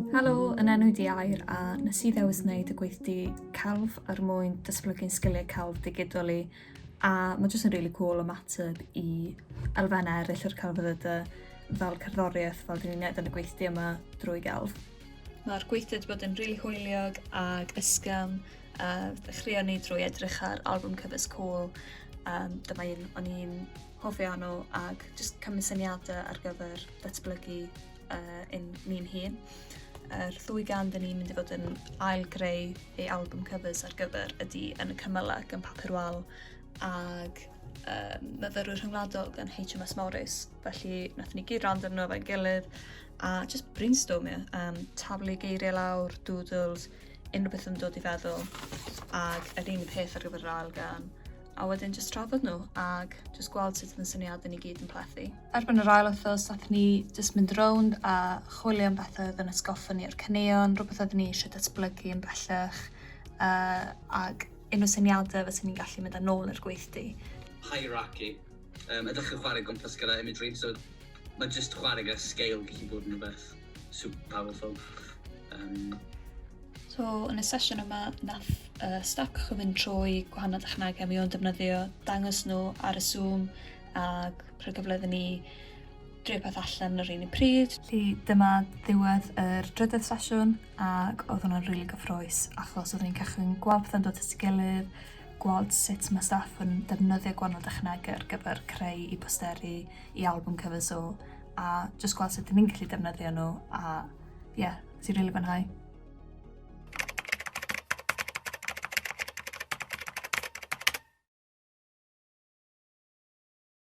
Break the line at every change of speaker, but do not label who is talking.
Helo, yn enw di Air a nes i ddewis wneud y gweithdy celf er mwyn dysblygu'n sgiliau celf digidol i a mae jyst yn really cool ymateb i elfennau eraill o'r celfyddydau fel cerddoriaeth fel dyn ni'n neud yn y gweithdy yma drwy gelf. Mae'r gweithdy wedi bod yn rili really hwyliog ac ysgam Uh, ddechreuon ni drwy edrych ar album covers cool. Um, dyma un o'n i'n hofio nhw ac jyst cymryd syniadau ar gyfer datblygu uh, un ni'n hun. Yr ddwy gan dyn ni'n mynd i fod yn ail greu ei album covers ar gyfer ydy yn y cymylau gan papur wal ac um, myfyrwyr rhyngwladol gan HMS Morris. Felly, nath ni gyd rand arno fe'n gilydd a just brainstormio, um, taflu geiriau lawr, doodles, unrhyw beth yn dod i feddwl ac yr un peth ar gyfer yr ail gan a wedyn jyst trafod nhw ac jyst gweld sut yn syniadau ni gyd yn plethu. Erbyn yr ail wythnos nath ni jyst mynd rownd a chwilio am bethau oedd yn atgoffa ni o'r caneuon, rhywbeth oeddwn ni eisiau datblygu yn bellach uh, ac unrhyw syniadau fyswn ni'n gallu mynd â nôl i'r gweithdy. Hierarchy
Yym ydych chi'n chwarae gwmpas gyda imagery so mae jyst chwarae gyda scale gallu bod yn rhywbeth super powerful. Um,
So, yn y sesiwn yma, nath uh, staff cychwyn fynd trwy gwahanol dechnegau mi o'n defnyddio, dangos nhw ar y Zoom ac rhoi gyfle iddyn ni drio peth allan yr un i pryd. Lly, dyma ddiwedd yr drydedd sesiwn ac oedd hwnna'n rili really gyffroes achos oeddwn ni'n cychwyn gweld pethau'n dod at ei gilydd, gweld sut mae staff yn defnyddio gwahanol dechnegau ar gyfer creu i posteri i album covers so, a just gweld sut ni'n gallu defnyddio nhw a ie, yeah, ti'n rili really fwynhau.